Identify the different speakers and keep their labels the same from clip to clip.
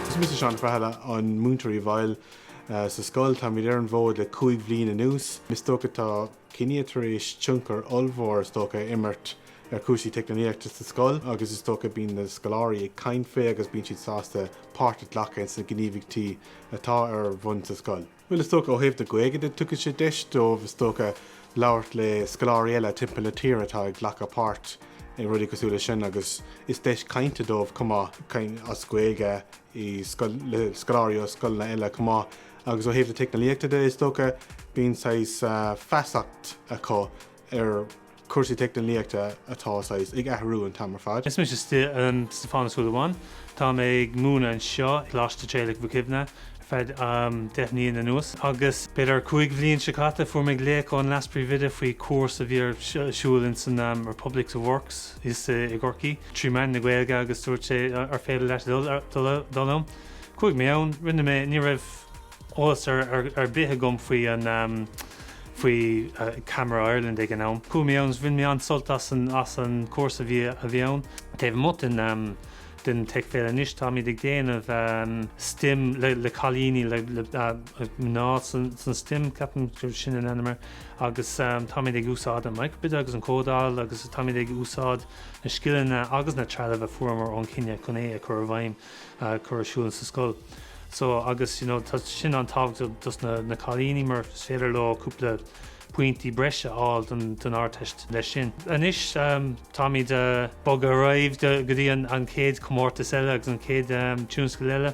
Speaker 1: Is mise Seán Feathala, an múinteoir i bhfeighil sa scoil. Táimid ar an bhfód le cúig bhliain anuas. Is dócha tá Kinia tar éis tionchar ollmhór is dócha a imirt ar chúrsaí teicneolaíochta sa scoil agus is dócha bíonn na scoláirí ag caint faoi agus bíonn siad sásta páirt a ghlacadh ins na gníomhaíochtaí atá ar bhun sa scoil. Bhuel, is dócha, ó thaobh na Gaeilge de, tugann sé deis dóibh, is dócha, labhairt le scoláirí eile timpeall na tíre atá ag glacadh páirt i rudaí cosúil leis sin agus is deis cainte dóibh chomh maith, as Gaeilge, le scoláirí ó scoileanna eile chomh maith. Agus ó thaobh na teicneolaíochta de, is dócha, bíonn saghas feasacht acu ar chúrsaí teicneolaíochta atá saghas ag athrú an t-am ar fad. Is mise
Speaker 2: Stiofán Ó Súilleabháin. Tá mé ag múineadh anseo i gColáiste Thraolaigh Mhic Shuibhne ar feadh deich mbliain anuas agus b'fhéidir cúig bhliain seo caite fuair mé glaoch ón leaspríomhoide faoi chúrsa a bhí ar siúl in san Republic of Works i gCorcaí trí mheán na Gaeilge agus dúirt sé ar féidir leat dul ann. Chuaigh mé ann, rinne mé, ní raibh, eolas ar bith agam faoi Camara Ireland ag an am. Chuaigh mé ann agus bhain mé an-sult as an chúrsa a bhí ann. Taobh amuigh den Tech Féile anois, táimid ag déanamh stem le cailíní, le mná san stem, ceapaim gur sin an ainm air, agus táimid ag úsáid an microbit agus an códáil agus táimid ag úsáid na scileanna agus na trealamh a fuaireamar ó Kinia chun é a chur i bhfeidhm. cur ar siúl sa scoil so agus you know tá sin an-tábhachtach dos na na cailíní mar is féidir leo cúpla pointí breise a fháil don don Ardteist leis sin. Anois táimid a' bogadh ar aghaidh go go dtí an an chéad chomórtas eile agus an chéad tionscadal eile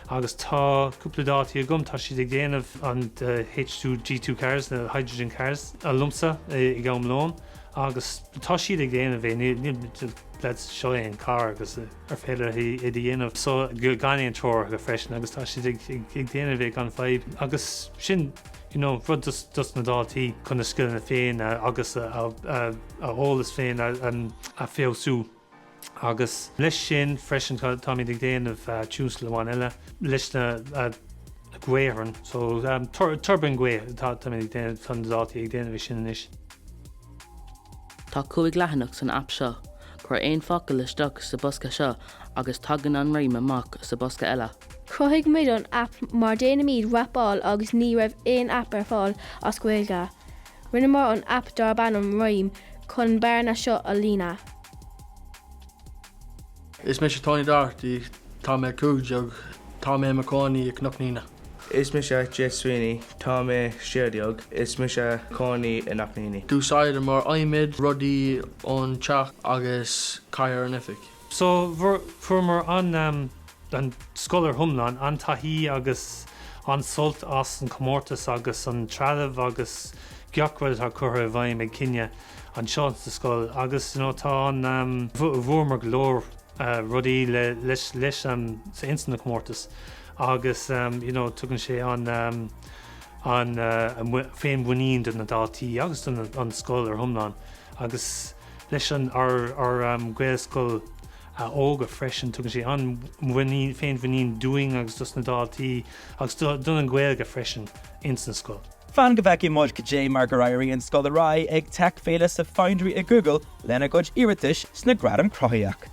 Speaker 2: agus tá cúpla daltaí agam, tá siad ag déanamh an H2 G2 cars, na hydrogen cars liomsa ag am lóin agus tá siad ag déanamh é níl níl níl lads seo é an carr agus eh. ar féidir leo é a dhéanamh so gan aon treoir freisin agus tá siad ag déanamh é gan fadhb agus sin you know rud dos na daltaí chun a scileanna féin agus a eolas féin a feabhsú agus leis sin freisin táimid ag déanamh tionscadal amháin eile leis na gaothráin so tuirbín gaoithe táimid ag déanamh tá na daltaí ag déanamh é sin anois.
Speaker 3: Tá cúig leathanach san aip seo. Cuir aon focal isteach sa bhosca seo agus tagann an rím amach sa bhosca eile. Chruthaigh muid an
Speaker 4: aip mar déanaimid rapáil agus ní raibh aon aip ar fáil as Gaeilge. Rinneamar an aip darb ainm Rime chun an bhearna seo a líonadh.
Speaker 5: Is mise Tony Doherty, tá mé cúig déag, tá mé i mo chónaí i gCnoc an Éanaigh. Is mise
Speaker 6: Jake Sweeney, tá mé sé déag, is mise cónaí i Knockneeny.
Speaker 5: D'úsáideamar adhmad, rudaí ón teach agus cathaoir ón oifig. So,
Speaker 2: fuaireamar an, an scoil ar hiomlán, an-taithí agus an-sult as an comórtas agus an trealamh agus gach rud atá curtha i bhfeidhm ag Kinia anseo sa scoil agus you know tá an bhuamar go leor rudaí leis sa ins na comórtais agus you know tugann sé an-fhéinmhuinín do na daltaí agus don an scoil ar hiomlán agus leis an ár Gaelscoil óga freisin. Tugann sé an-fhéinmhuinín dúinn agus dos na daltaí agus don an Ghaeilge freisin ins an scoil. Fan go bhfeicfidh muid
Speaker 7: cad é mar gur éirigh leis an scoil ar aghaidh ag Tech Féile sa Foundry i Google lena gcuid iarratais sna Gradaim Chruthaitheacha.